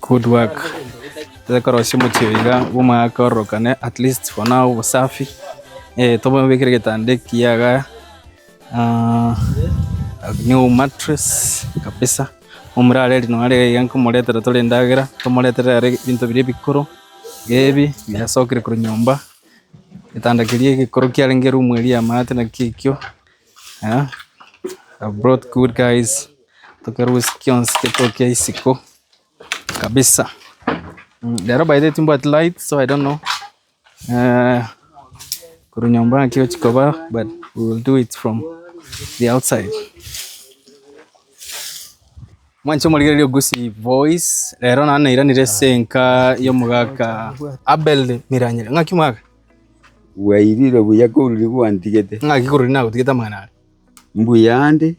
Good work. Tobe korosia omochie oyo iga bw'omwaka ororokane at least for now obosafi eh, tomobekere egetanda ekiya iga ah, a new mattress kabisa omure are rino are iga nkomoretera tore endagera tomoretere are ebinto biria ebikoro iga ebi biasokire korwa nyomba egetanda keria egekoro kiarenge room eria yamate naki ekio ah, you have brought good guys. tokerwe ase kionsi getokia isiko kabisa mmh rero by the way timbwati light so I don't know eh korwa nyomba naki gochia koba but we will do it from the outside. Mwanche omorigereria ogosie voice rero naende nairanire ase enka ya omogaka Abel Miranyira ng'aki omogaka? Bwairire buya korwa riria gwantigete. Ng'aki korwa riria nagotigete amang'ana aria? Mbuya ande,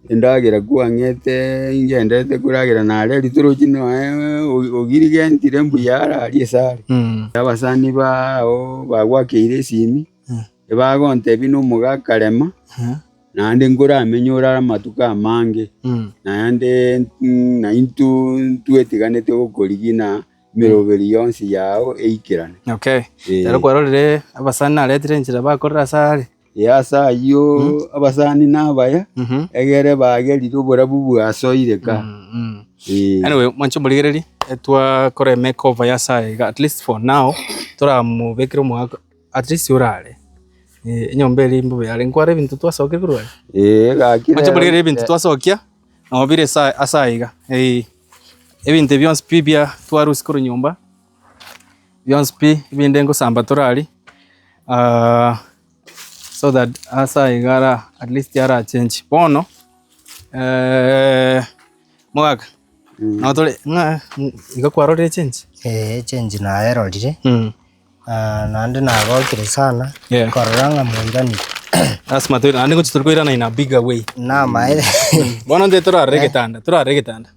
endagera kwang'ete ingenderete koragera nare ritoroche noe ogirigentire mbuya ararie esare. Abasani bao bagwakeire esimi, ebagontebia nomoga akarema, naende nkoramenye ore amatuko amange, naende naintwe twetiganete gokorigia na emeroberi yonsi yao eikerane. Okay. Ekero kwarorire abasani naretire enchera bakorire asare. Ee, ase ayio abasani nabaya, egere baagerire oborabu bwasoire ka. Ee. Anyway, mwanche omorigereria eh, twakora emake over ya saha iga at least for now toramobekere omogaka at least orare Eh, enyomba eria imbe oyare nkware ebinto twasokia korwa are Ee, egakire mwanche omorigereria ebinto Eh, twasokia nobire sa- ase aiga Eh, ebinto ebi bionsi pi bia twarusia korwa nyomba bionsi pi ebinde ngosamba torari ah, so that ase aye iga ara at least arachenchi bono eh, mogaka nabo tore ng'a ng- iga kwarorire echenchi Eh, echenji naerorire mm. ah, naende nagokire sana Yeah. korora ng'a moirani lasima toira naende gochi tore koirana in a bigger way namaere bono nde torarore getanda torarore getanda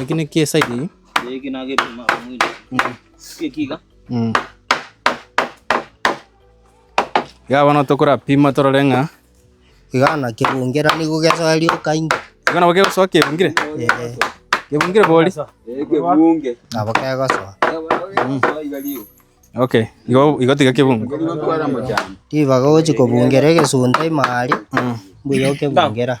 Eki ne kie side eye. Eki na gepima mwili. Eki iga. Mm. Iga bono tokora pima torore ng'a. Iga na kebungira nigo gesoa rioka inge. Iga nabo kegosoa kebungire. Eh, Kebungire bori. Kebunge. nabo kegosoa. Okay. Igo igo tiga kebungu. Tiba gochi kobungira egesunda imari. Mm. Mbuya okebungira.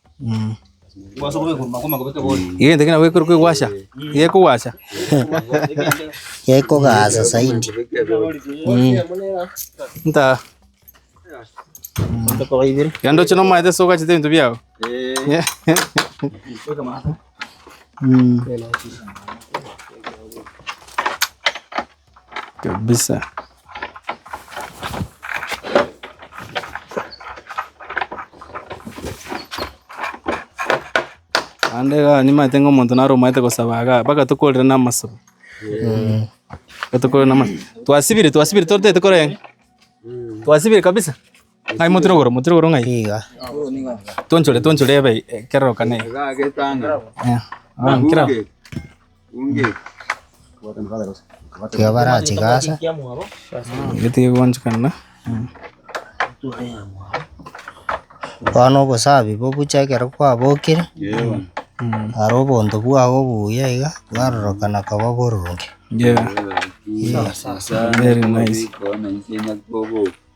Egento ekio nabo ekero kegwasha, gekogwasha. Gekogaasa zaidi. Nta. Yaani ndoche nomaete soka chete ebinto biao. kabisa. Naende iga nimanyete ng'a omonto naro omanyete gosaba igaa, mpaka tokorire na amasobi. Mpaka tokorire na ama- twasibire twasibire totaete korenge, twasibire kabisa. Ng'ai motire igoro, motire igoro ng'ai? Iga. Tuonchore, tuonchore ebe ekerorokane. Eh, ah, kira. Ekio barachika ase. Getige gwanchekana. Bono obosabi bobuche ekero kwabokire, aro obonto bwao obuya iga, bwarorokana koba oboronge. Yeah, very nice.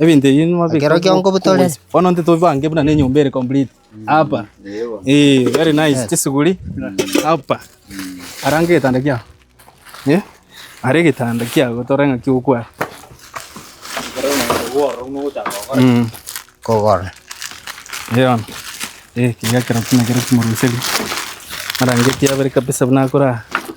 Ebinto ebi nimabeka Ekero kio nkobutore. Bono intwe tobibange buna nenyomba ere complete hapa eh very nice chisuguri hapa arange getanda kiao eh are getanda kiao gotore ng'a ki okwara Mm. Kogora. Eon. Eh, kiga kero kina kero kimoroseri. Arangeti abere kabisa buna akora.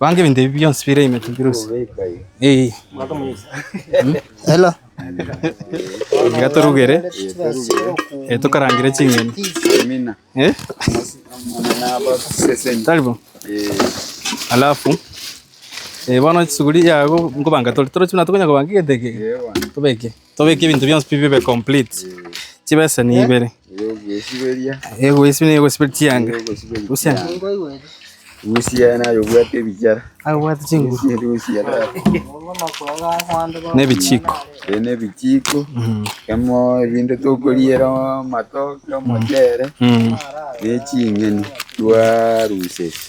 Banga ebinto ebi bionsi bire ime Tibirusi. Ee. Mm. Hello. Iga torugere. Eh, tokarangire ching'eni. Amina. Eh? Taribo. Alafu eh, bono chisuguri yago nkobanga tori torochuna tokonya kobanga egete eke tobeke Tobeke ebinto bionsi pi bibe complete. Chibeseni ibere. Egoesiberia negosiberia chianga. Rusia. Rusia nayo obwate ebichara. Abwate chinguru. Rusia Nebichiko. Ene bichiko. Kemo ebinto tokoriera amatoke, omochere. Neching'eni twarusia.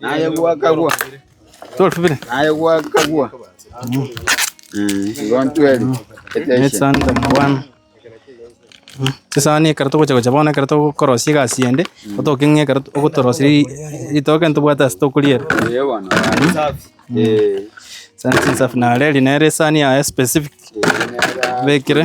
Naye gwakagwa. Naye gwakagwa. Igo ntweri. Etensio. Chisani ekero togocha gocha bono ekero togokorosia egasi ende otoke ng'a ekero ogotorosia ri- ritoke ntobwate ase tokoriera Ee bono. Ee. Sani chinsafi nare eri nere esani yaye specific Bekire.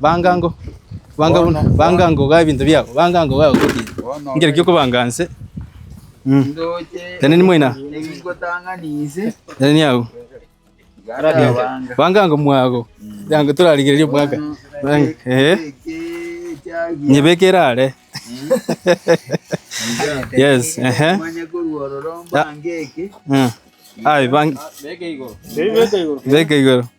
Banga ango, banga buna, banga ango ogaaye ebinto biago, banga ango ogaaye ogotiga. Bono Nkere ki okobanga nse? Mm. ndoche Teneni moina. ebingotang'ani inse Teneni agwo. igakabanga. Banga ango mwago. Yango torarigereria omwaka. Banga. Eh. Nyebeke erare. Yes, ehe. Manye korwa ororo mbange eke. Mm. Aye bang. Beka igoro. Beka igoro.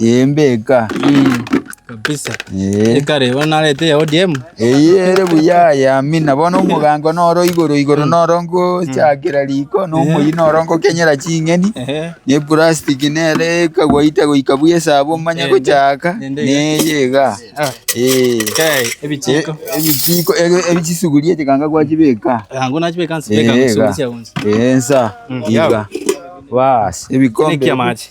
Eye mbeka. kabisa Eh. ekare bono narete ya odm Eye ere buya yamina bono omogango noro igoro igoro noro ngochakera riko na omoyia noro ngokenyera ching'eni Ehe. na eplastic nere ekagwaita goika buya esaabo omanye Ende. gochaka Ende iga. neye iga Ah, Eh. kai ebichiko E- ebichiko ege- ege chisuguria chikanga gwachibeka yango nachibeka nsibeka Eh, nsibeka iga. gonsi Eh, nsa iga bas ebikombe Nekia machi.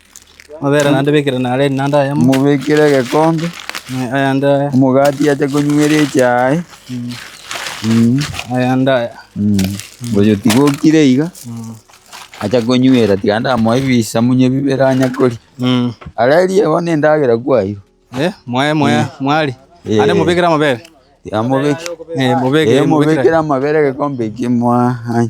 Mobekere egekombe, omogati ache konywa ere echae. Oyo tiga okire iga, acha konywera, tiga ndamoe ebisamunye bibere anya koria. Ara eria bono endagera kwaiywa. Tiga mobekere amabere egekombe ekio moa anya.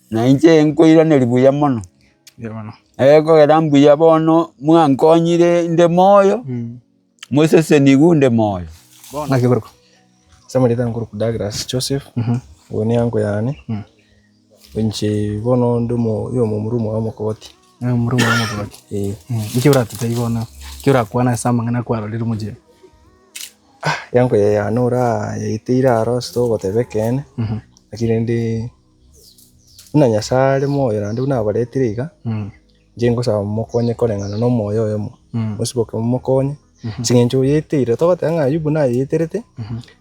Na inche nkoiraneria buya mono, ekogera mbuya bono mwankonyire inde moyo, mosesenigwe onde moyo. Naki korokwa? Ase amarieta nkorokwa Douglas Joseph, oyo ne uncle yane, inche bono inde omomura omobe omokogoti. Omomura omobe omokogoti? Ee. Inki oratigerie bono, inki orakwane ase amang'ana kwarorire omochenu? Uncle yane orayeteire aro ase togoteba ekeene, lakini rende. Buna Nyasae are moyo naende buna abaretire iga, inche ngosaba momokonye koreng'ana na omoyo oyomo, mosiboke momokonye, ase eng'encho oyeteire. Togoteba ng'a Ayubu nayeterete,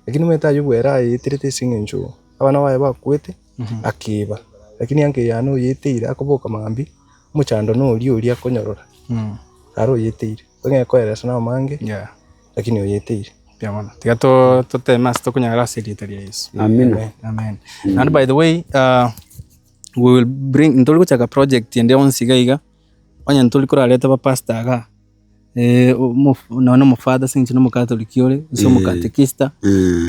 lakini omanyete Ayubu ere ayeterete ase eng'encho abana baye bakwete, akeba, lakini ango eyane oyeteire akoboka mambia, omochando noria oria akonyorora, naro oyeteire. Ekero ekoeresa naro mange. Lakini oyeteire. Mbuya mono. Tiga to- toteme ase tokonyara ase erieta ria Yesu. Amina. Amen. Naende by the way, ah, we will bring, nitori gochaka project ende onsi iga iga, onye nitori korarete abapastor igaa, eh, omof- nonye na omofather ase eng'encho na omokatoliki ore, gose omokatekista,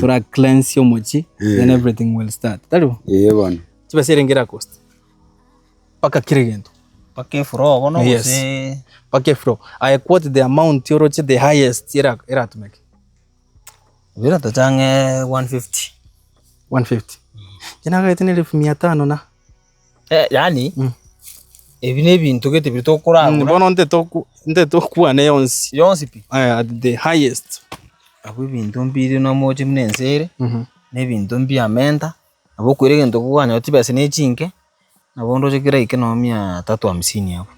tora cleanse omochie, then everything will start. Tari bo? Eye bono. Chibesa erenge erakosta. mpaka kira egento. Mpaka efuro oo bono Yes. gose mpaka efuro I quote the amount oroche the highest era- eratumeke Ebiro tocha ang'e 150 150 inche nagaete na elfu mia tano na Eh yaani Mm. ebi na ebinto gete biri tokoragura bono ntetoku ntetokwana yonsi yonsi pi eh, at the highest abwo ebinto mbire nomoche buna ense ere Mhm. na ebinto mbiamenta Nabo okoira egento kogwanyorire chibesa ne chinke, nabo onde oche kera eke noo mia tatu hamsini abwo,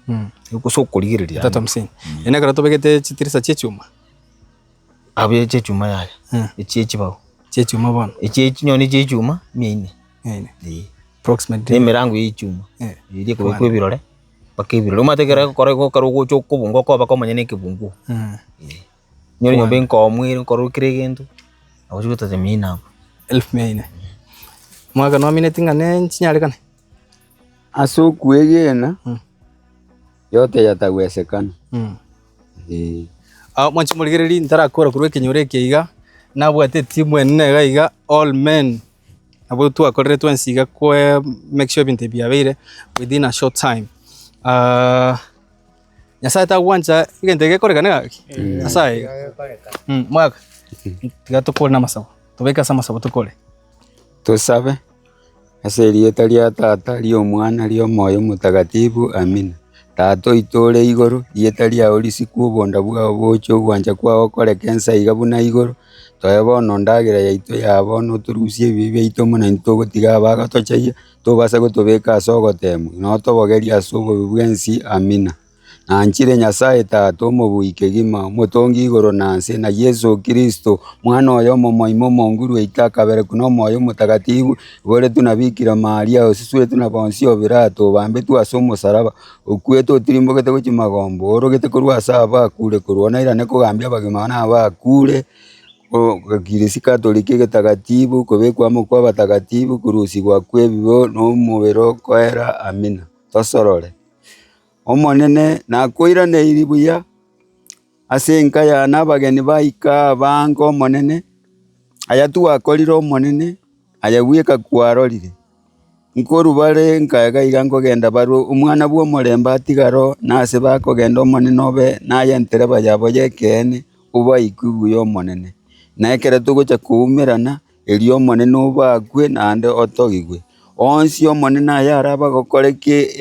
gose okorigereria. Mia tatu hamsini, eria nekero tobegete chitirisa chia echuma. Abwo eria chia echuma yaya, echia echibao. Chia echuma bono. Echia echi nonye ne echia echuma, mia ine. Mia ine. Eeh. Approximately. Ne emerango ya echuma, eria ekobekwa ebirore, mpaka ebirore. Omanyete ekero egokora igo ekero ogocha okobunga okoba komanya na ekebunguo. Nyoore nyomba enkomu ere nkorwa kera egento, nabochia gotata emiya ime abwo. Elfu mia ine. Omwaka nomineti ng'a ne chinyarekane. Ase okwegena yote yatawesekana. Ee. Ao mwanche morigererie ntarakora korwa ekenyoro eke iga, nabwate etimu enene iga iga all men abwo twakorire twensi iga kwe make sure ebinto ebi biabeire within a short time. Nyasae tagwancha egento eke gekoreka gaki ase aye iga. Mm, Mwaka, tiga tokore namasabo, tobeke ase amasabo tokore. Tosabe. Ase erieta ria Tata, ria Omwana, ria Omoyo Omotakatifu. Amina. Tata oito ore igoro, rieta riao risikwe, obonda bwao boche, ogwancha kwao okoreke ense aiga buna igoro. Toe bono endagera yaito ya bono, otorusie ebibe biaito buna intwe togotiga abagotochayia, tobasa gotobeka ase ogoteemwa, na otobogerie ase obobe bwensi. Amina. Nanchire Nyasae Tata omobui kegima, omotongi igoro na nse, na Yeso Kristo, Omwana oye omomoime omonguru oito akaberekwa nomoyo omotagatifu, oboretwe na Bikira Maria, osusuretwe na Ponsio Pilato, obambetwe ase omosaraba, okwete otirimbogete gochia magomba, oorogete korwa ase abakure, korwa nairane kogambia abagima na abakure. Ekirisiko atorikwe egetakatifu, kobekwa amo kw'abatakatifu, korusigwa kw'ebibe nomobere okoera, Amina. Tosorore. Omonene nakoiraneiri buya, ase enka yane abageni baika abange Omonene, ayatwakorire Omonene. Ayegwika kwarorire, nkorwa bare nkae gaiga nkogenda barue Omwana bw'Omorembe atigare oo, nase bakogenda Omonene obe naye entereba yabo y'ekeene, obaikwe buya Omonene. Na ekero togocha koumerana, erio Omonene obakwe naende otogigwe. Onsi Omonene ayare abagokore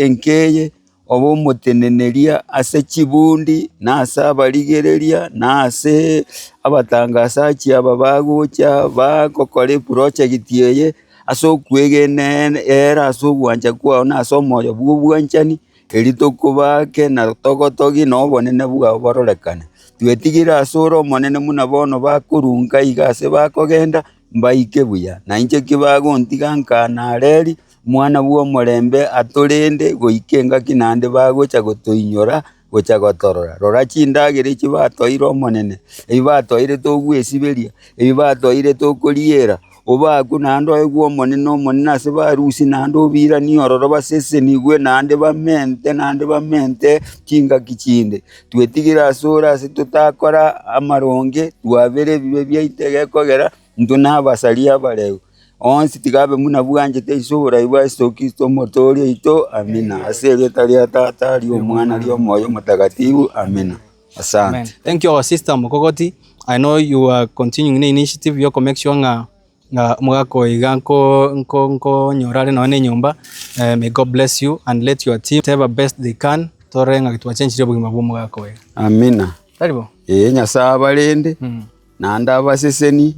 enkeye. ob'omoteneneria ase chibundi, na ase abarigereria, na ase abatangasachi aba bagocha bagokora eprojekiti eye, ase okwegene-e-era ase ogwancha kwao na ase omoyo bw'obwanchani, erio tokobaake na togotogie na obonene bwao bororekane. Twetigire ase ore omonene buna bono bakorunka iga ase bakogenda, Mbaike buya, nainche ki bagontiga nka nareri Omwana bw'Omorembe atorende goika engaki naende bagocha gotoinyora gocha gotorora. Rora chindagera echi batoeire Omonene, ebi batoeirete ogwesiberia, ebi batoeirete okoriera, obaaku naende oegwe Omonene, Omonene ase barusia naende obiranie ororo basesenigwe naende bamente naende bamente chingaki chinde. twetigire ase ore ase totakora amaronge, twabere ebibe biaito egekogera, intwe nabasari abareu. Onsi tiga abe buna bwanchete ase oborai bwa Yeso Kristo Omotooria oito. Amina. Ase erieta ria Tata, ria Omwana, ria Omoyo Omotakatifu. Amina. Asante. Thank you our sister Mokogoti, I know you are continuing ne initiative yo ko make sure ng'a Ng'a omogaka oyo iga nko- nko- nkonyora are nonye na enyomba eh, may God bless you and let your team whatever best they can torore ng'a twachenchirie obogima bwa omogaka oyo. Amina. Tari bo? Ee, Nyasae abarende, Mm. naende abaseseni,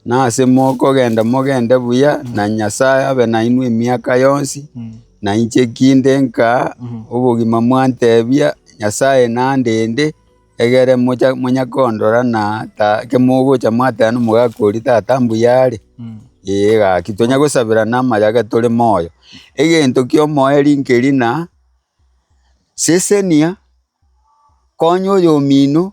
nase mokogenda mogende buya, na Nyasae abe nainwe emiaka yonsi, Mm. na inche ekinde nkaa, obogima mwantebia, Nyasae nandende, egere mocha monyakondora na ta kemogocha mwateba nomogaka oria tata mbuya are, ee gaki tonya gosaberana amayaga tore moyo. Egento kia omoerio nkeri na, sesenia, konya oyomino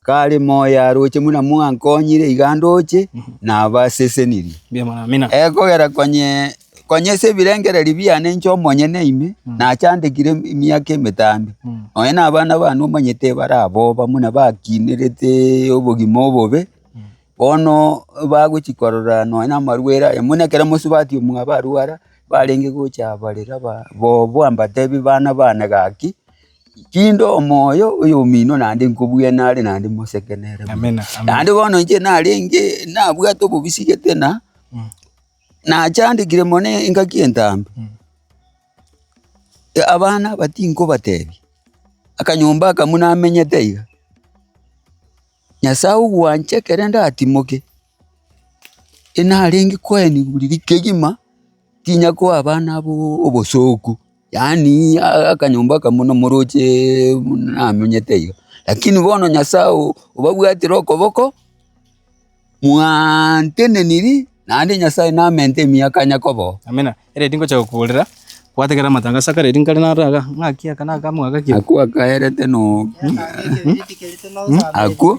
kare moyo aroche muna mwankonyire iga ndoche nabasesenirie. Ebiamang'ina. Ekogera konye Konya ase ebirengererio biane inche omonyene ime nachandekire emiaka emetambe, nonya na abana bane omanyete ebara aboba buna bakinerete obogima obobe, bono bagochi korora nonya na amarwere aya buna ekero mosubati omwabo arwara barenge gocha barera ba bobo ambatebi bana bane gaki, tinde omoyo oyomino naende nkobwene are naende moseke nere. Naende bono inche narenge nabwate obobisia gete na. nachandekire mono engaki entambe, abana aba tinkobatebia, akanyomba aka buna amenyete iga, Nyasae ogwancha ekero ndatimoke, narenge koenigwa riria kegima, tinyakoa abana aba obosooku. Yaani akanyomba aka buna moroche buna namenyete iga, lakini bono Nyasae obabwatire okoboko, mwaantenenirie, naende Nyasae namentee emiaka ya Yakobo. Amina. Ere tingocha gokuborera, gwategera amatangaso akare eri nkare naro iga, ng'aki aka naka mwagaki. Nakwo akaerete no, akwo.